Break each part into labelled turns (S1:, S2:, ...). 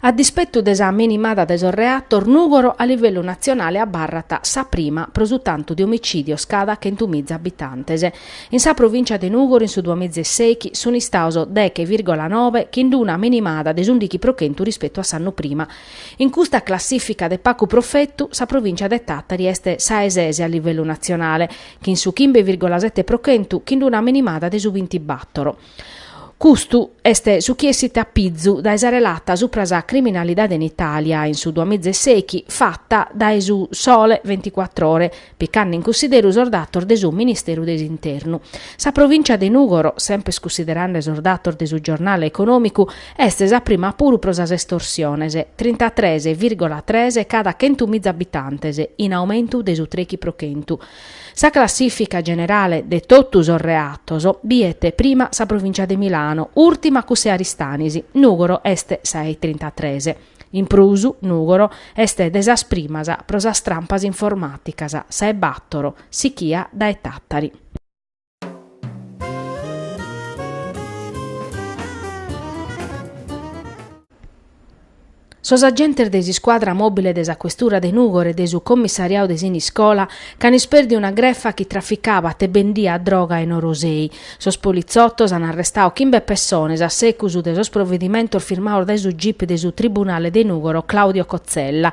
S1: A dispettu de sa minimada de sos reatos, Nùgoro a livellu natzionale abarrat sa prima pro su tantu de omicìdios cada chentu miza abitantes. In sa provìncia de Nùgoro in su duamiza e sèichi sunt istados deghe vìrgola noe chin d'una minimada de s'ùndichi pro chentu rispetu a s'annu prima, In custa classìfica de pagu profetu, sa provìncia de Tàtari est sa 'e ses a livellu natzionale, chin su chimbe vìrgola sete pro chentu chin d'una minimada de su bintibàtoro. Custu est su chi essit a pizu dae sa relata supra sa criminalidade in Itàlia in su duamiza e sèichi fata dae su Sole Ventiquattrore picande in cunsideru sos datos de su Ministeru de s'Internu. Sa provìncia de Nùgoro, semper cunsiderande sos datos de su giornale econòmicu, est sa prima puru pro sas estorsiones, trintatres vìrgola tres cada chentu miza abitantes, in aumentu de su trèichi pro chentu. Sa classìfica generale de totu sos reatos biet prima sa provìncia de Milano, ùrtima cuss'e Aristanis, Nùgoro est sa 'e trintatres. In prus, Nùgoro est de sas primas pro sas trampas informàticas, sa 'e bàtoro, sichia dae Tàtari. Sos agentes de s'iscuadra mòbile de sa questura de Nùgoro e de su commissariadu de Siniscola ch'an ispèrdiu una grefa chi traficabat e bendiat droga in Orosei, Sos politzotos an arrestadu chimbe pessones a segus de sos provedimentos firmados dae su gip de su Tribunale de Nùgoro Claudio Cozzella.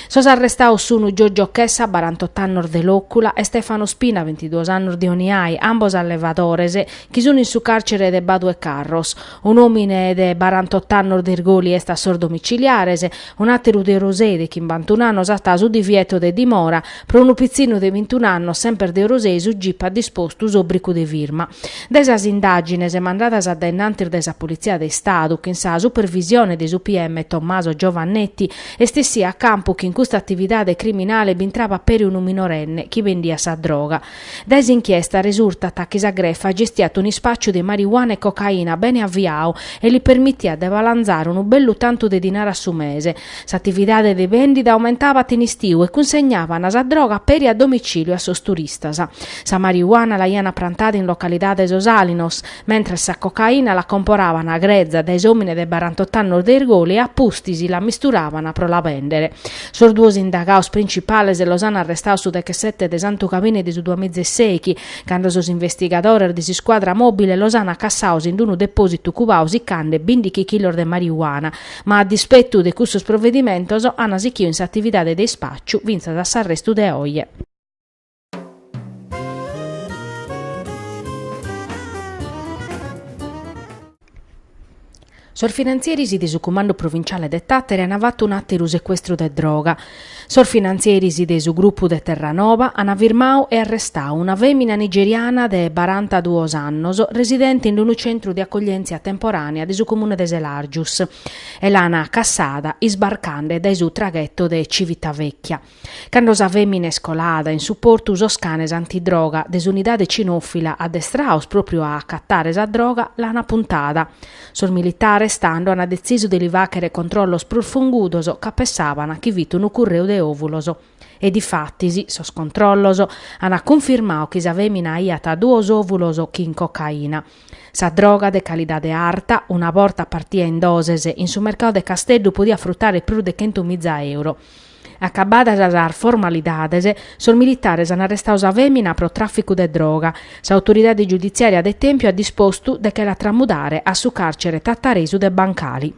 S1: Sos arrestados sun Giorgio Chessa, barantotto annos de Lòcula, e Stefano Spina, bintiduos annos de Oniai, ambos allevadores, chi sun in su càrcere de Badu 'e Carros. Un'òmine de barantot'annos de Irgoli est a sos domiciliares, un'àteru de Orosei de chimbantun'annos at su divieto de dimora, pro unu pitzinu de bintun'annos semper de Orosei su gip at dispostu s'òbricu de firma. Dae sas indàgines mandadas a dae innantis dae sa Politzia de Istadu, chin sa supervisione de su PM Tommaso Giovannetti, est essiu a campu chi in custa atividade criminale b'intrabat peri unu minorenne chi bendiat sa droga. Dae s'inchiesta resurtat chi sa grefa gestiat un'ispàciu de marijuana e cocaina bene aviadu e li permitiat de balanzare unu bellu tantu de dinare a su mese. S'atividade de bèndida aumentabat in istiu e cunsegnaban sa droga peri a domicìliu a sos turistas. Sa marijuana l'aiant prantada in localidade Sos Alinos, mentres sa cocaina la comporaban greza dae s'òmine de barantot'annos de Irgoli e a pustis la misturaban pro la bèndere. Sos duos indagados principales los an arrestados su dechesete de Santu Gabine de su duamiza e sèichi, cando sos investigadores de s'iscuadra mòbile los an acassados in unu depòsitu cubadu sicande bindighi chilos de marijuana, ma a dispetu de cussos provedimentos an sighidu in s'atividade de ispàciu fintzas a s'arrestu de oje. Sos finantzieris de su Cumandu Provinciale de Tàteri an fatu un'àteru secuestru de droga. Sos finantzieris de su grupu de Terranova an firmadu e arrestadu una fèmina nigeriana de barantaduos annos residente in unu centru de acoglièntzia temporànea de su comune de Selàrgius e l'an cassada isbarcande dae su tragheto de Civitavecchia. Cando sa fèmina est colada in su portu sos canes antidroga de s'unidade cinòfila addestrados pròpriu a acatare sa droga l'ant apuntada. Sos militares tando ant detzisu de li fàghere controllos prus fungudos ca pessàbant chi fit unu curreu de òvulos. E difatis, sos controllos ant cunfirmadu chi sa fèmina aiat duos òvulos chin cocaina. Sa droga de calidade arta, una borta partida in doses, in su mercadu de Casteddu podiat frutare prus de chentu miza euro. Acabadas sas formalidades, sos militares an arrestadu sa fèmina pro tràficu de droga. S'autoridade giuditziària de Tèmpiu at dispostu de che la tramudare a su càrcere tataresu de Bancali.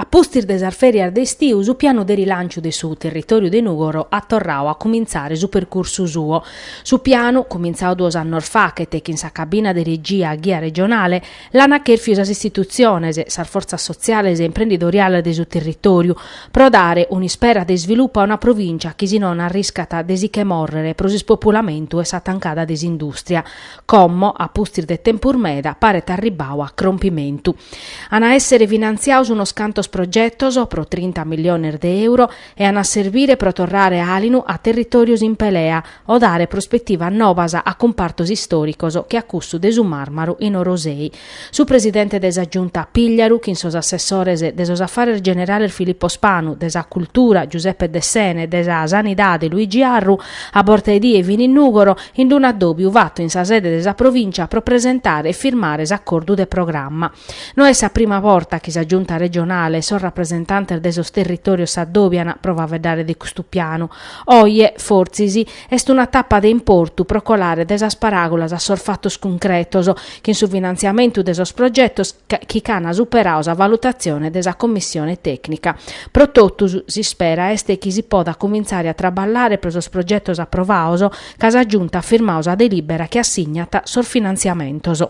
S1: A pustis de sas fèrias de istiu su pianu de rilànciu de su territòriu de Nùgoro at torradu a cumintzare su percursu suo. Su pianu, cumintzadu duos annos faghet chin sa cabina de regia a ghia regionale, l'an chèrfiu sas istitutziones, sas fortzas sotziales e imprendidoriales de su territòriu, pro dare un'ispera de isvilupu a una provìncia chi si non arriscat de si che mòrrere pro s'ispopulamentu e sa tancada de s'indùstria. Como, a pustis de tempus meda, paret arribbadu a crompimentu. An a èssere finantziados unos cantos progetos pro trinta milliones de euro e an a servire pro torrare àlinu a territòrios in pelea o dare prospetivas nobas a cumpartos istòricos che a cussu de su màrmaru in Orosei, Su presidente de sa Giunta Pigliaru chin sos assessores de sos Affares Generales Filippo Spanu, de sa Cultura Giuseppe Dessena e de sa Sanidade Luigi Arru, a borta 'e die fin in Nùgoro, in d-un'addòbiu fatu in sa sede de sa Provìncia pro presentare e firmare s'acordu de programma. No est sa prima borta chi sa Giunta Regionale e sos rapresentantes de sos territòrios s'addòbian pro faeddare de custu pianu. Oje, fortzis, Est una tapa de importu pro colare de sas paràgulas a sos fatos cuncretos, chin su finantziamentu de sos progetos chi ch'an superadu sa valutatzione de sa commissione tècnica. Pro totus, s'ispera est chi si podat cumintzare a traballare pro sos progetos aprovados, ca sa Giunta at firmadu sa delìbera chi assignat sos finantziamentos.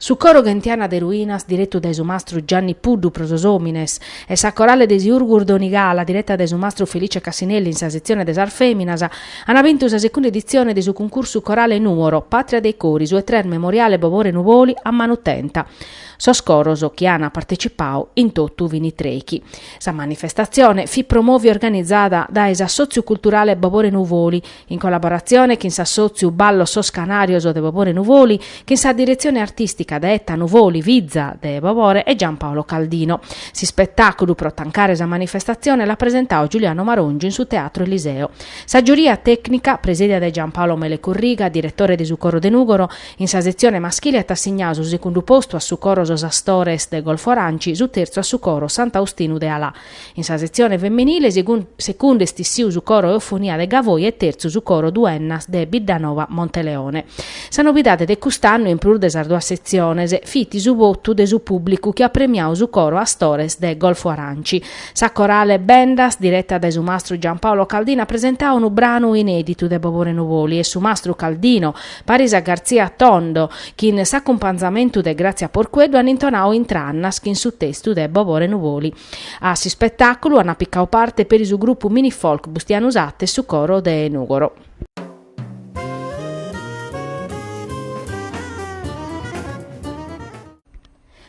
S1: Su coro Ghentiana de Ruinas direttu dae su mastru Gianni Puddu pro sos omines e sa corale de Siurgus Donigala diretta dae su mastru Felice Cassinelli in sa setzione de sas feminas ana bintu sa secunda edizione de su cuncursu corale Nuoro, patria dei cori su e tres Memoriale Bobore Nuvoli a Manutenta. Sos coros chi an partecipau in tottu fini trechi. Sa manifestatzione fit promovi organizada dae s'assòtziu culturale Bobore Nuvoli, in collaboratzione chin s'assòtziu Ballos sos Canàrios de Bobore Nuvoli, chin sa diretzione artìstica de Etta Nuvoli, fiza de Bobore, e Gian Paolo Caldino. S'ispetàculu pro tancare sa manifestatzione l'at presentadu Giuliano Marongiu in su Teatro Eliseo. Sa giuria tècnica, presidia dae Gian Paolo Mele Corriga, diretore de su Coro de Nùgoro, In sa setzione maschile at assignadu su segundu postu a su coro Sos Astores de Golfo Aranci, su terzu a su coro Sant'Austinu de Alà. In sa setzione feminile segundu est issiu su coro Eufonia de Gavoi e terzu su coro Duennas de Biddanova Monteleone. Sa novidade de cust'annu, in prus de sas duas setziones, fit su votu de su pùblicu chi at premiadu su coro Astores de Golfo Aranci. Sa corale Bendas, direta dae su mastru Giampaolo Caldino, at presentadu unu branu inèditu de Bobore Nuvoli e su mastru Caldino, Paris a Garzia Tondo, chin s'acumpanzamentu de Grazia Porqueddu an intonau Intrannas chin su testu de Bobore Nuvoli. A s'ispetàculu ana picau parte peri su grupu mini-folk Bustianu Satta e su coro de Nùgoro.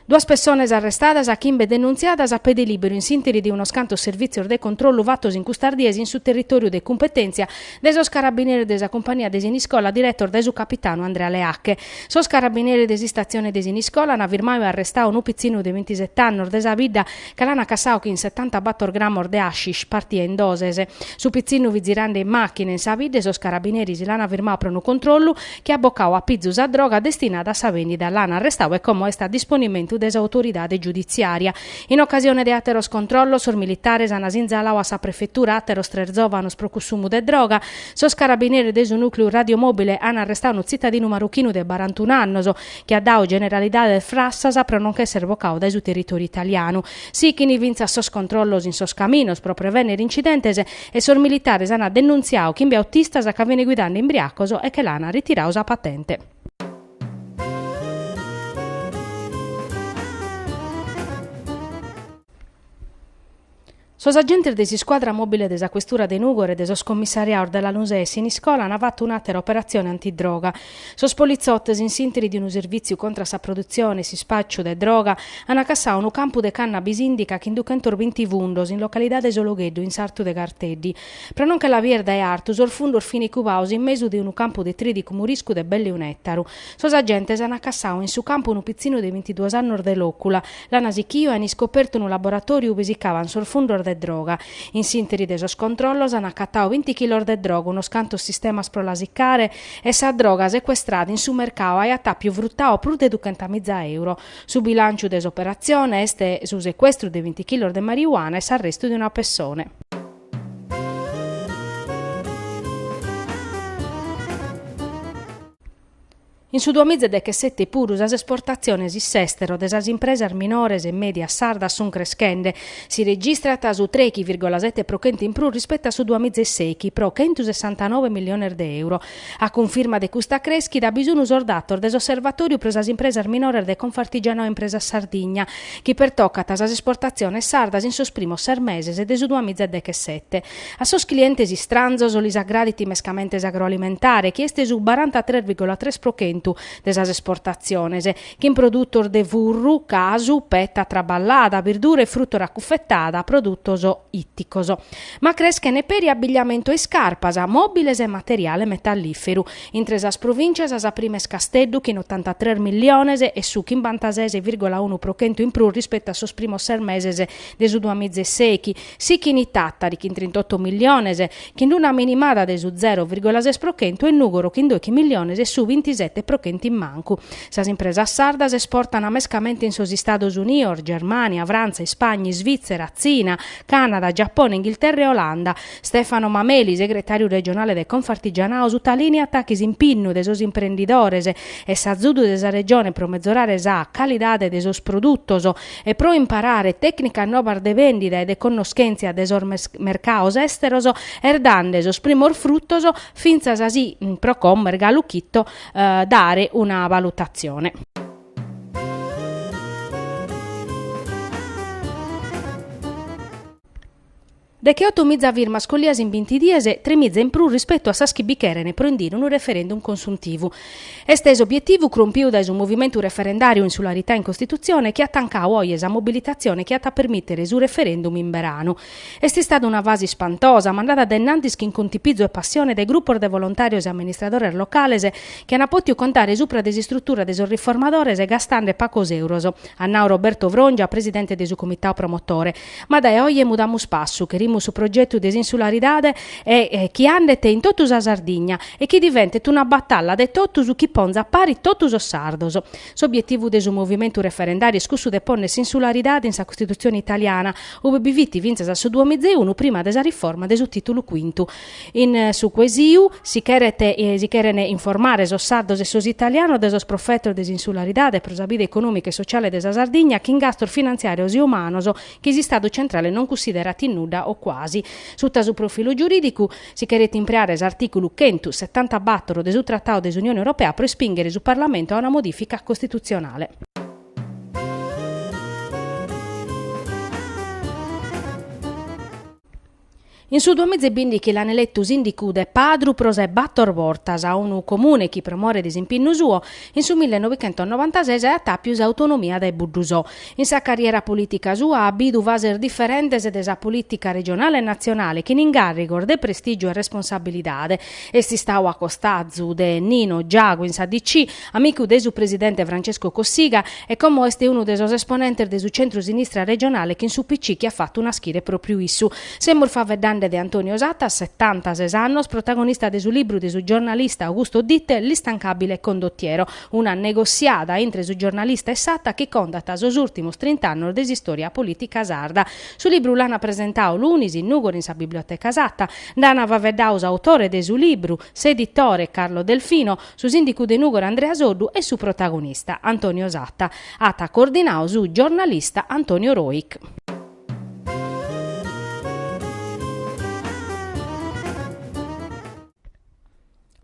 S1: Duas pessones arrestadas e chimbe denuntziadas a pede lìberu in s'ìnteri de unos cantos servìtzios de controllu fatos in custas dies in su territòriu de cumpetèntzia de sos carabineres de sa cumpania de Siniscola diretos dae su capitanu Andrea Leacche. Sos carabineres de s'Istatzione de Siniscola ant firmadu e arrestadu unu pitzinu de bintiset'annos de sa bidda ca l'ant acassadu chin setantabator gramos de hashish partios in doses. Su pitzinu fit zirande in màchina in sa bidda e sos carabineris l'ant firmadu pro unu controllu, chi at bocau a pizu sa droga destinada a sa bèndida, l'an arrestau e como est a disponimentu de s'autoridade giudiziària. In ocasione de àteros controllos, sos militares an sinzalau a sa prefetura àteros tres zòvanos pro cussumu de droga. Sos carabinieri de su nùcleu radiomòbile an arrestau unu tzitadinu marochinu de barantunu annos, chi at dau generalidades frassas pro non ch'èssere bocau dae su territòriu italianu. Sichin fintzas sos controllos in sos caminos pro prevènnere incidentes, e sos militares ant denuntziadu chimbe autistas ca fin guidande imbriacos e che l'ant ritiradu sa patente. Sos agentes de s'iscuadra mòbile de sa questura de Nùgoro e de sos commissariados de Lanusei e Siniscola ant fatu un'àtera operatzione antidroga, Sos politzotes, in s'interi de unu servìtziu contra sa produtzione e s'ispàciu de droga, ant cassadu unu campu de cannabis indica chin duchentos binti fundos in localidade Sologheddu in sartu de Garteddi. Pro non che la bier dae artu, sos fundos fin cubados in mesu de unu campu de trìdicu muriscu de belle un'ètaru. Sos agentes ant cassadu in su campu unu pitzinu de bintiduos annos de Lòcula, l'ant sichidu e ant iscopertu unu laboratòriu ubi sicaban sos fundos de droga. In s'interi de sos controllos ant acatadu binti chilos de droga, unos cantos sistemas pro la sicare, e sa droga secuestrada in su mercau aiat àpiu frutau prus de duchentamìza euro. Su bilànciu de s'operatzione est su secuestru de binti chilos de mariuana e s'arrestu de una pessone. In su duamiza e dechesete puru sas esportatziones in s'èstero de sas impresas minores e mèdias sardas sunt creschende, Si registrat su trechi virgola sete pro chentu in prus rispettu a su duamiza e seichi, pro chentusessantanove milliones de euro. A cunfirma de custa crèschida bi sun sos datos de s'Osservatòriu pro sas impresas minores de Confartigianao Impresas Sardigna, chi pertocant sas esportatziones sardas in sos primos ses meses de su duamiza e dechesete. A sos clientes istranzos lis agradit mescamente s'agroalimentare, chi est su barantatres virgola tres pro chentu de sas esportatziones, chin produtos de furru, casu, peta traballada, birdura e frùtora acufetada, produtos ìticos. Ma creschene peri abbigliamentu e iscarpas, mòbiles e materiale metallìferu. Intre sas provìntzias sa prima est Casteddu chin otantatres milliones e su chimbantases virgola unu pro chentu in prus rispetu a sos primos ses meses de su duamiza e seichi, sichin Tàtari chin trintoto milliones chin una minimada de su zero virgola ses pro chentu e Nùgoro chin doichi milliones e su bintisete pro chentu in mancu. Sas impresas sardas esportan mescamente in sos Istados Unidos, Germània, Frantza, Ispagna, Isvìtzera, Tzina, Cànada, Giapone, Inghilterra e Olanda. Stefano Mameli, segretàriu regionale de Confartigianao, sutalìniat chi s'impinnu de sos imprendidores e s'azudu de sa Regione pro mezorare sa calidade de sos produtos, e pro imparare tècnicas nobas de vèndida e de connoschèntzia de sos mercados èsteros, est dande sos primos frutos fintzas si pro como est galu chito dare una valutatzione. Decheoto miza firmas collias in binti dies, tres miza in prus rispetu a sas chi bi cherent pro indire unu referendum consuntivu. Est s'obietivu crompiu dae su movimentu referendàriu Insularità in Costitutzione chi at tancadu oje sa mobilitatzione chi at a permìtere su referendum in beranu. Est istada una fase ispantosa, mandada de innantis chin contipizu e passione dae grupos de volontàrios e amministradores locales chi ant pòtiu contare subra de s'istrutura de sos riformadores gastende pagos euros, at nadu Roberto Frongia, presidente de su comitadu promotore. Ma dae oje mudamus passu, cherimus su progetu de s'insularidade e chi andet in totu sa Sardigna e chi diventet una batalla de totus chi ponzat paris totu sos sardos. S'obietivu de su movimentu referendàriu est cussu de pònnere s'insularidade in sa Costitutzione italiana, ue bi fit fintzas a su duamizeunu prima de sa riforma de su Tìtulu Cuintu, In su cuesiu si cheret si cheren informare sos sardos e sos italianos de sos profetos de s'insularidade pro sa vida econòmica e sociale de sa Sardigna chin gastos finantziàrios e umanos chi s'Istadu centrale non cussiderat in nudda o cuasi. Suta su profilu giurìdicu si cheret impreare s'artìculu chentu setantabàtoro de su Tratadu de s'Unione Europea pro ispìnghere su Parlamentu a una modìfica costitutzionale. In su duamiza e bìndichi l'an eletu sìndicu de Padru pro sa de bator bortas, unu comune chi pro more de s'impinnu suo, in su millenovichentosnovantases at àpiu s'autonomia dae Buddusò. In sa carriera polìtica sua at bidu fases diferentes de sa polìtica regionale e natzionale chin ingàrrigos de prestìgiu e responsabilidade. Est istadu a costazu de Nino Giagu in sa DC, Amicu de su presidente Francesco Cossiga e como est unu de sos esponentes de su centro-sinistra regionale chin s'UPC chi at fatu naschire pròpriu issu. Semus faeddende de Antonio Satta, setantases annos, protagonista de su libru de su giornalista Augusto Ditel L'instancabile condottiero, una negossiada intre su giornalista e Satta chi contat sos ùrtimos trint'annos de s'istòria polìtica sarda. Su libru l'ant presentadu lunis in Nùgoro in sa Biblioteca Satta. Nd'ant faeddadu s'autore de su libru, s'editore Carlo Delfino, Su sìndicu de Nùgoro Andrea Soddu e su protagonista, Antonio Satta. At coordinadu su giornalista Antonio Rojch.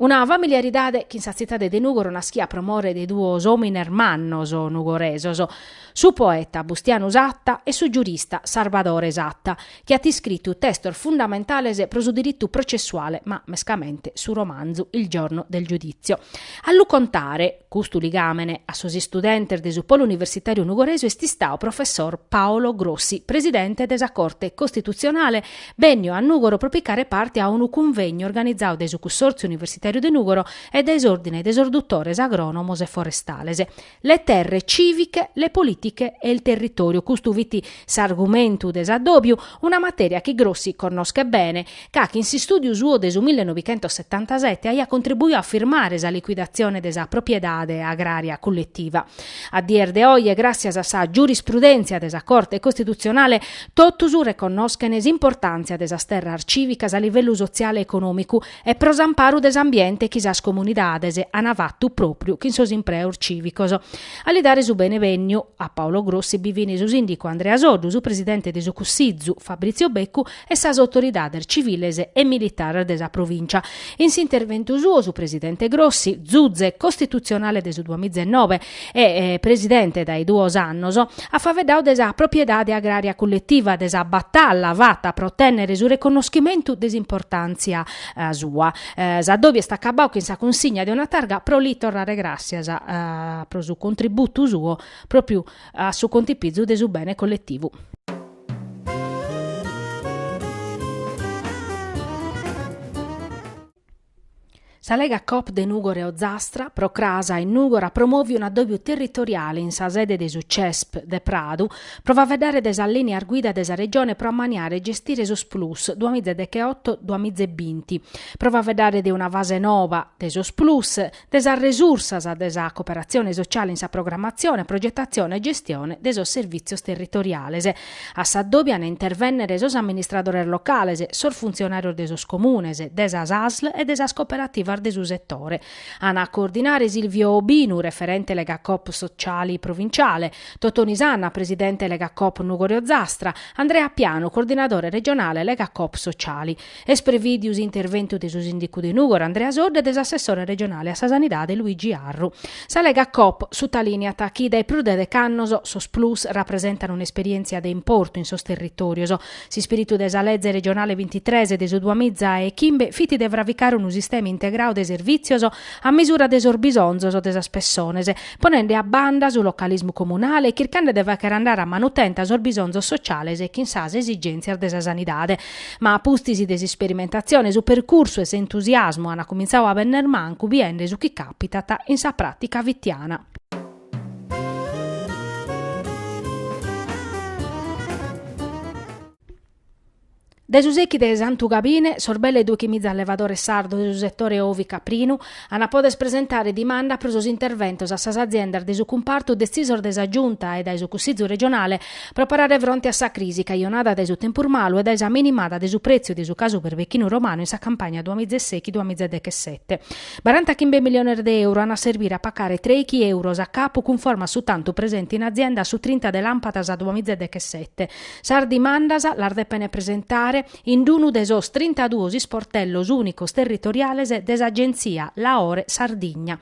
S1: Una familiaridade chin sa tzitade de Nùgoro naschia pro more de duos òmines mannos nugoresos, su poeta Bustianu Satta e su giurista Sarbadore Satta. chi at iscritu testos fundamentales pro su diritu processuale, ma mescamente su romanzu Il giorno del giudizio. A lu contare, custu ligàmene, a sos istudentes de su Polo Universitàriu Nugoresu est istadu professor Paolo Grossi, presidente de sa Corte Costitutzionale, bènniu a Nùgoro pro picare parte a unu cunvegnu organizadu dae su Cussòrtziu Universitàriu de Nùgoro e dae s'Òrdine de sos Dutores Agrònomos e Forestales, le terre cìviche, le politiche e il territorio, custu fit s'argumentu de s'addòbiu, una matèria chi Grossi connoschet bene, ca chin s'istùdiu suo de su millenovichentossetantasete aiat contribuiu a firmare sa liquidatzione de sa propriedade agrària culletiva. A dies de oe, gràssias a sa giurisprudèntzia de sa Corte Costitutzionale, totus reconnoschent s'importàntzia de sas terras cìvicas a livellu sotziale e econòmicu, e pro s'amparu de s'ambiente chi sas comunidades an fatu pròpriu chin sos impreos cìvicos. A li dare su benevènniu a Paolo Grossi bi fin su sìndicu Andrea Soddu, su presidente de su Cussizu Fabrizio Beccu e sas autoridades civiles e militares de sa provìncia. In s'interventu suo su presidente Grossi, zuze costitutzionale de su duamiza e nove, e presidente dae duos annos, at faveddau de sa propriedade agrària culletiva, de sa batalla fata pro tènnere su reconnoschimentu de s'importàntzia sua. S'addòbiu est acabau chin sa cunsigna de una targa pro li torrare gràssias pro su contributu suo pròpiu a su contipizu de su bene colletivu. Sa Lega Coop de Nùgoro e Ozastra, pro cras in Nùgoro promovet un'addòbiu territoriale in sa sede de su CESP de Pradu pro faveddare de sas lìneas guida de sa Regione pro ammaniare e gestire sos Plus duamiza e decheoto-duamiza e binti, pro faveddare de una fase nova de sos Plus, de sas resursas de sa cooperatzione sociale in sa programmatzione, progetatzione e gestione de sos servìtzios territoriales, a s'addòbiu an a intervènnere sos amministradores locales, sos funtzionàrios de sos comunes, de sas asl e de sas cooperativas de su setore, an a coordinare Silvio Obinu, referente Legacoop Sociali provinciale, Totoni Sanna, presidente Legacoop Nùgoro e Ozastra, Andrea Pianu, coordinadore regionale Legacoop Sociali. Est prevìdiu s'interventu de su sìndicu de Nùgoro Andrea Soddu e de s'assessore regionale a sa Sanidade Luigi Arru. Sa Lega Coop sutalìniat chi dae prus de deche annos sos Plus rapresentan un'esperièntzia de importu in sos territòrios. S'ispìritu de sa Leze regionale bintitres de su duamiza e chimbe fit de fravicare unu sistema integrau de servìtzios a misura de sos bisonzos de sas pessones, ponende a banda su localismu comunale e chircende de fàchere andare a manu tenta sos bisonzos sotziales e chin sas esigèntzias de sa sanidade. Ma a pustis de s'isperimentatzione su percursu e s'entusiasmu an cumintzau a benner mancu biende su chi càpitat in sa pràtica fitiana. Dae su sèichi de Santu Gabine, sos belle doichimiza allevadores sardos de su setore ovi-caprinu, An a poder presentare dimanda pro sos interventos a sas aziendas de su cumpartu detzisos dae sa Giunta e dae su Cussizu regionale pro parare fronte a sa crisi cajonada dae su tempus malu e dae sa minimada de su pretziu de su casu perbechinu romanu in sa campagna duamiza e sechi duamiza e dechesete. Barantachimbe miliones de euro an a serbire a pacare trèichi euros a capu cunforma a su tantu presente in azienda a su trinta de làmpadas duamiza e dechesete. Sas dimandas las depene presentare. in d-unu de sos trintaduos isportellos ùnicos territoriales de s'Agentzia Laore Sardigna.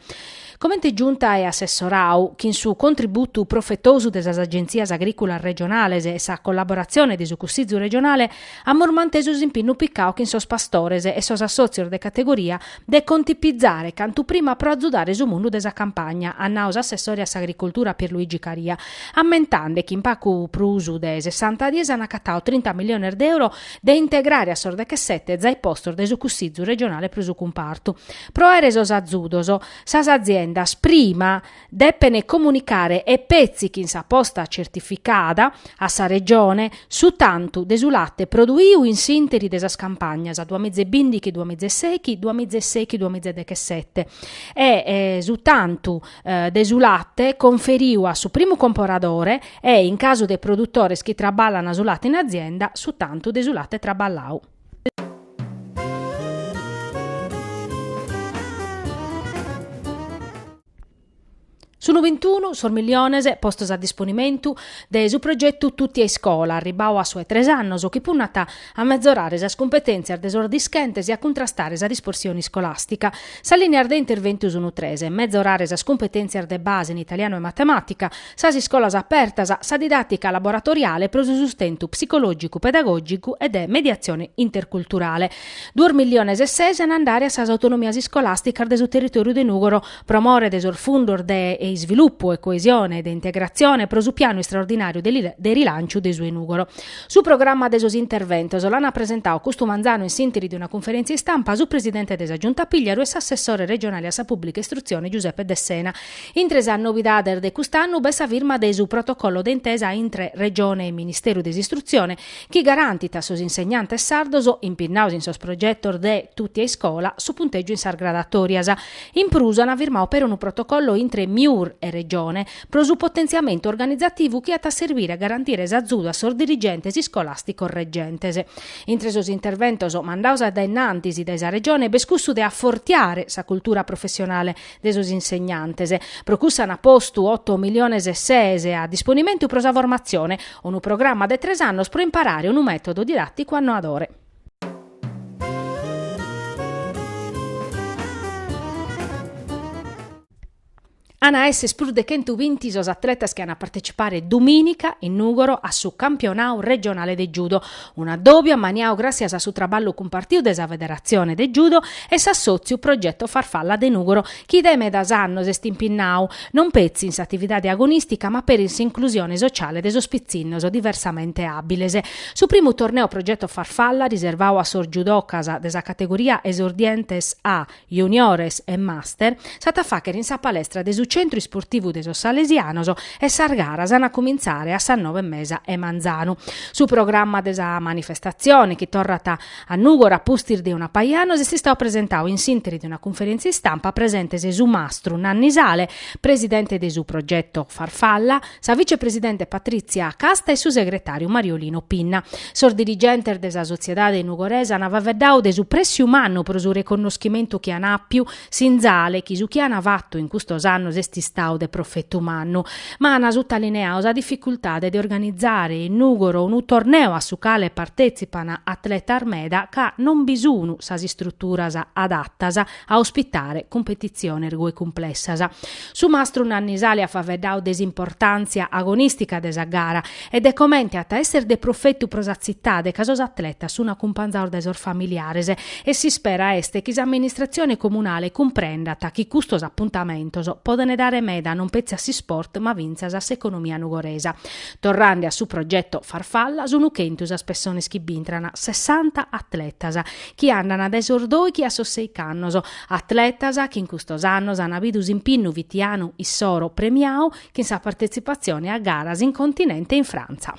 S1: Comente Giunta e assessorau, chin su contributu profetosu de sas Agentzias Agrìculas regionales e sa collaboratzione de su Cussizu regionale, amus mantesu s'impinnu picau chin sos pastores e sos assòtzios de categoria de contipizare cantu prima pro azudare su mundu de sa campagna, at nau s'assessore a s'agricoltura Pierluigi Caria, ammentande chi in pacu prus de sessanta dies an acatau trinta milliones de euro de integrare a sos dechesete zai postos de su Cussizu regionale pro su cumpartu. Pro aere sos azudos, sas aziendas prima depene comunicare e petzi chin sa posta certificada a sa Regione su tantu de su latte produiu in s'interi de sas campagnas duamizebindichi-duamizesechi duamizesechi-duamizedechesette e su tantu de su latte conferiu a su primu comporadore e, in casu de produtores chi traballan su latte in azienda, su tantu de su latte traballau. Sunt bintunu sos milliones postos a disponimentu de su progetu Tutti a iscola, arribbau a su 'e tres annos, chi punnat a metzorare sas cumpetèntzias de sos dischentes e a cuntrastare sa dispersione iscolàstica. Sas lìneas de interventu sunt tres, metzorare sas cumpetèntzias de base in italianu e matemàtica, Sas iscolas apertas, sa didàtica laboratoriale pro su sustentu psicològicu-pedagògicu e de mediatzione interculturale. Duos milliones e ses an a andare a sas autonomias iscolàsticas de su territòriu de Nùgoro pro more de sos fundos de isvilupu e coesione e de integratzione pro su pianu istraordinàriu de rilànciu de su 'e Nùgoro. Su programma de sos interventos l'an presentau custu manzanu in s'interi de una cunferèntzia istampa su presidente de sa Giunta Pigliaru e s'assessore regionale a sa pùblica istrutzione Giuseppe Dessena, Intre sas novidades de cust'annu b'est sa firma de su protocollo de intesa intre Regione e Ministeru de s'Istrutzione chi garantit a sos insegnantes sardos, impinnaos in sos progetos de Tutti a iscola, su puntègiu in sas gradatòrias. In prus an firmau peri unu protocollo intre MIUR e Regione pro su potentziamentu organizativu chi at a serbire a garantire s'azudu a sos dirigentes iscolàsticos regentes. Intre sos interventos mandaos a dae innantis dae sa Regione b'est cussu de afortiare sa cultura professionale, de sos insegnantes. Pro cussa ant postu oto miliones e ses a disponimentu pro sa formatzione, unu programma de tres annos pro imparare unu mètodu didàticu annoadore. An a èssere prus de chentu binti sos atletas chi an a partecipare dumìnica in Nùgoro a su campionadu regionale de judo, Un'adòbiu amaniau gràssias a su traballu cumpartiu de sa Federatzione de Judo e s'assòtziu Progetto Farfalla de Nùgoro chi dae medas annos est impinnau, non petzi in s'atividade agonìstica ma peri in s'inclusione sociale de sos pitzinnos diversamente àbiles. Su primu torneo Progetto Farfalla riservau a sos judocas de sa categoria Esordientes A juniores e master, s'at a fàghere in sa palestra de su Centru Isportivu de sos Salesianos e sas garas an a cumintzare a sas nove e mesa 'e manzanu. Su programma de sa manifestatzione, chi torrat a Nùgoro a pustis de una paja annos, est istadu presentadu in s'ìnteri de una cunferèntzia istampa, presentes su mastru Nanni Sale, presidente de su progeto Farfalla, sa vicepresidente Patrizia Casta e su segretàriu Mariolino Pinna. Sos dirigentes de sa sotziedade nugoresa an faveddadu de su prèssiu mannu pro su reconnoschimentu chi an àpiu, sinzale chi su chi an fatu in custos annos est istadu de profetu mannu, ma an sutalineadu sa dificultade de organizare in Nùgoro unu torneu a su cale partetzipan atletas meda ca non bi sun sas istruturas adatas. a ospitare cumpetitziones goi cumplessas. Su mastru Nanni Sale at faeddadu de s'importàntzia agonìstica de sa gara e de comente at a èssere de profetu pro sa tzitade ca sos atletas sunt acumpanzados dae sos familiares e s'ispera est chi s'amministratzione comunale cumprendat chi custos apuntamentos podent dare meda non petzi a s'isport ma fintzas a s'economia nugoresa. Torrande a su progeto Farfalla, sunt chentu sas pessonas chi b'intrant, sessanta atletas, chi andana dae sos dòighi a sos sèighi annos, atletas chi in custos annos an bidu s'impinnu fitianu issoro premiau chin sa partetzipatzione a garas in continente e in Frantza.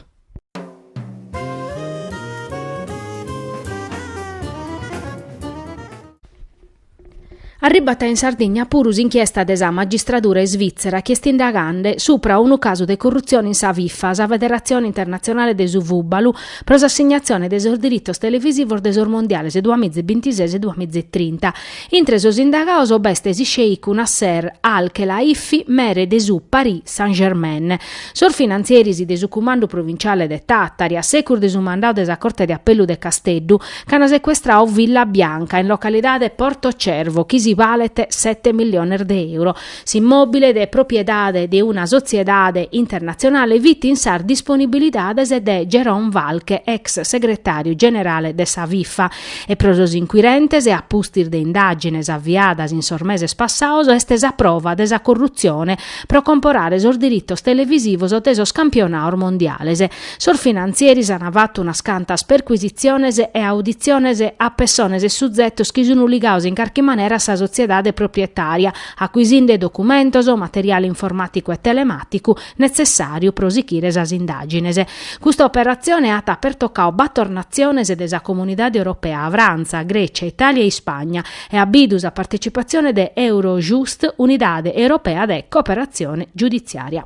S1: Arribat in Sardigna puru s'inchiesta de sa magistradura isvìtzera chi est indagande supra unu casu de currutzione in sa Fifa, sa federatzione internatzionale de su fùbalu, pro s'assignatzione de sos diritos televisivos de sos mondiales duamìa e bintises e duamìa e trinta. Intre sos indagados b'est s'isceicu Nasser Al-Khelaifi, mere de su Paris Saint-Germain. Sos finantzieris de su cumandu provinciale de Tàtari, a segus de su mandadu de sa Corte de Apellu de Casteddu, Ch'ana secuestrau Villa Bianca in localidade Porto Cervo chi si balet sete milliones de euro. S'immòbile de propriedade de una sotziedade internatzionale fit in sas disponibilidades de Jérôme Valcke ex segretàriu generale de sa Fifa e pro sos inquirentes a pustis de indàgines aviadas in sos meses passaos est sa prova de sa corrutzione pro comporare sos diritos televisivos de sos campionados mondiales Sos finantzieris an fatu unas cantas percuisitziones e auditziones a pessones e suzetos chi sun ligaos in carchi manera a sa sotziedade proprietària, acuisinde documentos, materiale informàticu e telemàticu netzessàriu pro sichire sas indàgines. Custa operatzione at pertocau bator natziones de sa Comunidade Europea, Frantza, Grècia, Itàlia e Ispagna, e at bidu sa partetzipatzione de Eurojust, Unidade Europea de Cooperatzione Giuditziària.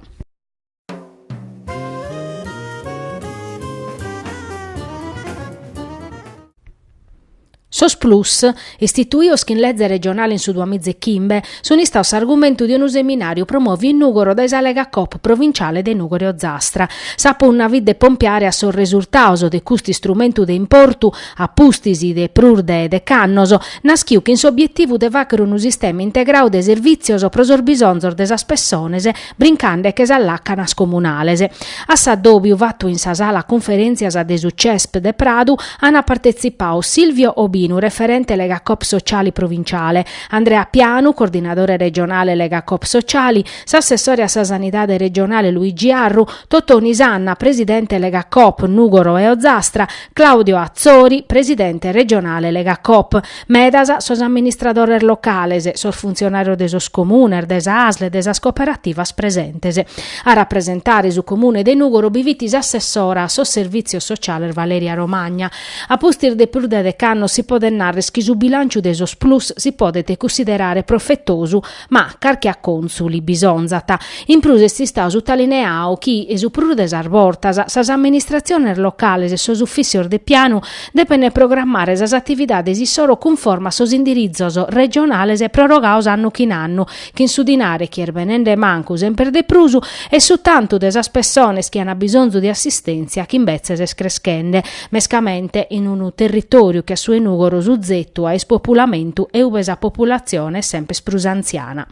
S1: Sos plus, istituios chin leze regionale in su duamiza e chimbe, sun istaos s'argumentu de unu seminàriu promòviu in Nùgoro dae sa Lega Coop provinciale de Nùgoro e Ozastra. Sa punna fit de pompiare a sos resurtados de custu istrumentu de importu, a pustis de prus de dech'annos, nàschiu chin s'obietivu de fàchere unu sistema integrau de servìtzios pro sos bisonzos de sas pessones, brincande che sas làcanas comunales. A s'addòbiu fatu in sa sala cunferèntzias de su CESP de Pradu an partetzipau Silvio Obinu, referente Legacoop Sociali provinciale, Andrea Pianu, coordinadore regionale Legacoop Sociali, s'assessore a sa Sanidade regionale Luigi Arru, Totoni Sanna, presidente Legacoop Nùgoro e Ozastra, Claudio Atzori, presidente regionale Legacoop. Medas sos amministradores locales, sos funtzionàrios de sos comunes, de sa ASL e de sas cooperativas presentes. A rapresentare su comune de Nùgoro bi fit s'assessora a sos Servìtzios Sociales Valeria Romagna. A pustis de prus de dech'annos si podet narrer chi su bilànciu de sos plus si podet cunsiderare profetosu Ma carchi accontzu li bisonzat. In prus est istau sutalineau chi, su prus de sas bortas, sas amministratziones locales e sos ufìcios de pianu depent programmare sas atividades issoro cunforme a sos indiritzos regionales prorogaos annu chin annu, chin su dinare chi est benende mancu semper de prus e su tantu de sas pessones chi ant bisonzu de assistèntzia chi imbetzes est creschende. mescamente in unu territòriu che a su 'e Nùgoro suzetu a ispopulamentu e ube sa populatzione est semper prus antziana.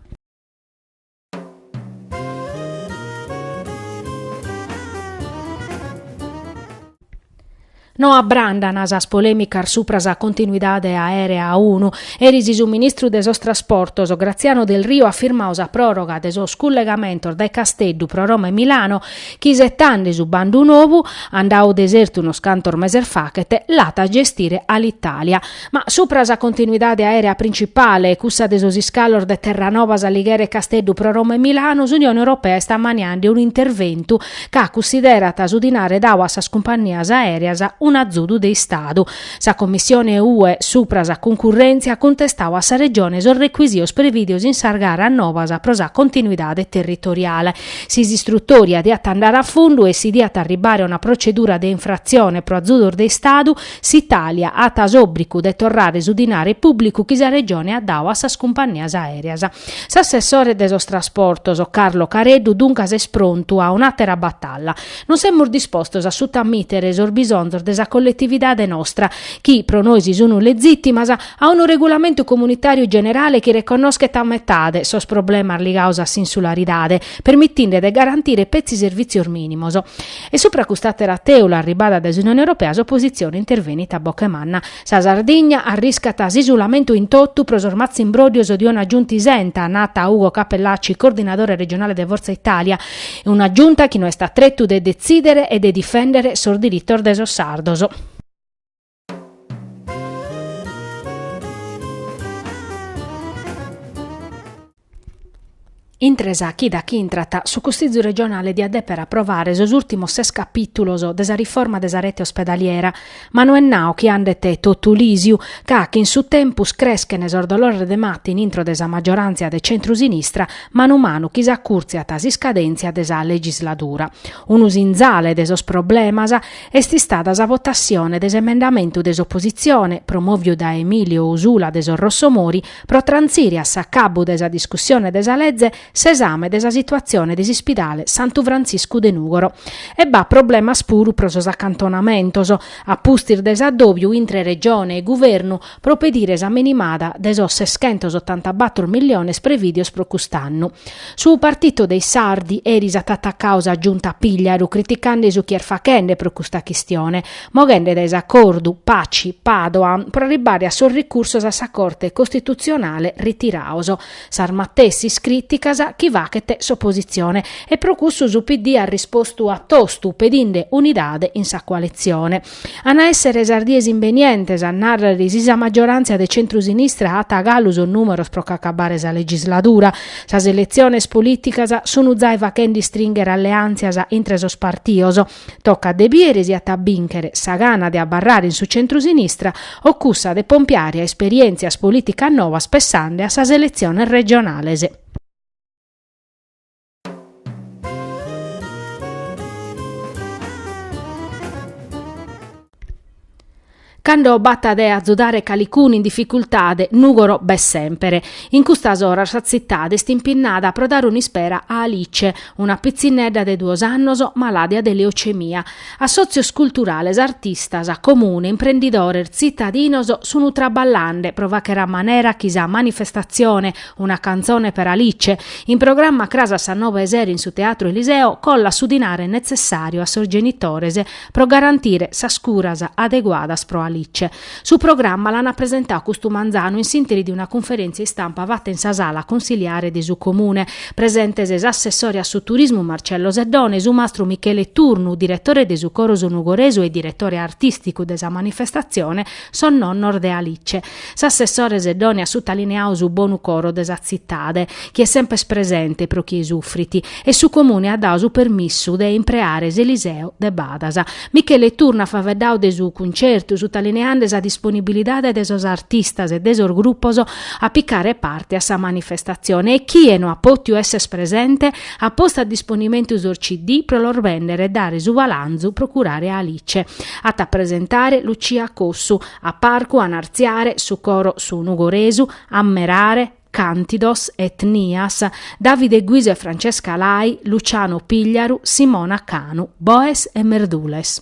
S1: No abrandan sas polèmicas supra sa continuidade aèrea unu, eris su ministru de sos Trasportos, Graziano Delrio at firmau sa pròroga de sos cullegamentos dae Casteddu pro Roma e Milano, chi isetande su bandu novu, andau desertu unos cantos meses fachet, l'at a gestire Alitalia. Ma supra sa continuidade aèrea principale, cussa de sos iscalos de Terranova, S'Alighera e Casteddu pro Roma e Milanu, s'Unione Europea est ammaniande un'interventu ca cunsiderat su dinare dau a sas cumpannias aèreas un'azudu de Istadu Sa Commissione UE supra sa cuncurrèntzia at cuntestau a sa Regione sos recuisios prevìdios in sas garas novas pro sa continuidade territoriale. Si s'istrutòria diat andare a fundu e si diat arribare a una procedura de infratzione pro azudos de Istadu, s'Italia at s'òbricu de torrare su dinare pùblicu chi sa Regione at dau a sas cumpannias aèreas. S'assessore de sos Trasportos, Carlo Careddu, duncas est prontu a un'àtera batalla. Non semus dispostos a sutamìtere sos bisonzos de sa colletividade nostra, chi pro nois sunt letzìtimas, a unu regulamentu comunitàriu generale chi reconnoschet a metade sos problemas ligaos a s'insularidade, permitinde de garantire petzi servìtzios mìnimos. E supra cust'àtera tèula arribada dae s'Unione Europea s'opositzione intervenit a boche manna. Sa Sardigna arriscat s'isulamentu in totu pro sos matzimbróddios de una Giunta isenta, nat Ugo Cappellacci, coordinadore regionale de Forza Italia, Una Giunta chi no est a tretu de detzìdere e de difèndere sos diritos de sos sardos. Intre sa chida chi intrat, su Cussizu regionale diat dèpere aprovare sos ùrtimos ses capìtulos de sa riforma de sa rete ospedaliera, Ma no est nau chi andet totu lìsiu, ca chin su tempus creschent sos dolores de mata intro de sa maggioràntzia de centru-sinistra, manu manu chi s'acùrtziat s'iscadèntzia de sa legisladura. Unu sinzale de sos problemas est istada sa votassione de s'emendamentu de s'opositzione, promòviu dae Emilio Usula de sos Rossomori, pro trantzire a s'acabbu de sa discussione de sa leze, s'esame de sa situatzione de s'ispidale Santu Frantziscu de Nùgoro e b'at problemas puru pro sos acantonamentos, a pustis de s'addòbiu intre Regione e Guvernu pro pedire sa minimada de sos seschentos otantabattor milliones prevìdios pro cust'annu. Su Partito dei Sardi eris at atacau sa Giunta Pigliaru criticande su chi est fachende pro custa chistione, moghende dae s'acordu Paci-Padoan pro arribbare a sos ricursos a sa Corte Costitutzionale ritiraos sas matessis crìticas chi fachet s'opositzione e pro cussu su PD at rispostu a tostu pedinde unidade in sa coalitzione. An a èssere sas dies imbenientes a nàrrere si sa magioràntzia de centru-sinistra at galu sos nùmeros pro ch'acabare sa legisladura. Sas eletziones polìticas sun zai fachende istrìnghere alleàntzias intre sos partios. Tocat de bìdere si at a bìnchere sa gana de abarrare in su centrusinistra o cussa de pompiare a esperièntzias polìticas novas pessande a sas eletziones regionales. Cando b'at de azudare calicunu in dificultade, Nùgoro b'est sèmpere. In custas oras sa tzitade est impinnada pro dare un'ispera a Alice, una pitzinnedda de duos annos malàdia de leocemia. Assòtzios culturales, artistas, comune, imprendidores, tzitadinos sunt traballande pro fàchere a manera chi sa manifestatzione Una canzone per Alice, in programma cras a sas nove 'e sero in su Teatru Eliseo, collat su dinare netzessàriu a sos genitores pro garantire sas curas adeguadas pro Alice. Su programma l'ant presentadu custu manzanu in s'interi de una cunferèntzia istampa fata in sa sala cunsiliare de su Comune. Presentes s'assessore a su Turismu Marcello Seddone, su mastru Michele Turnu, diretore de su Coro Su Nugoresu e diretore artìsticu de sa manifestatzione, sos nonnos de Alice. S'assessore Seddone at sutalineadu su bonu coro de sa tzitade, chi est sempes presente pro chie sufrit, e su Comune at dadu su permissu de impreare s'Eliseo de badas. Michele Turnu at faveddadu de su cuncertu, sutalineande sa disponibilidade de sos artistas e de sos grupos a picare parte a sa manifestatzione e chie no at pòtiu esser presente, at postu a disponimentu sos CD pro los bèndere e dare su balanzu pro curare Alice. At a presentare Lucia Cossu. A parcu ant a artziare su coro Su Nugoresu, Ammerare, Cantidos, Etnias, Davide Guiso e Francesca Lai, Luciano Pigliaru, Simona Canu, Boes e Merdules.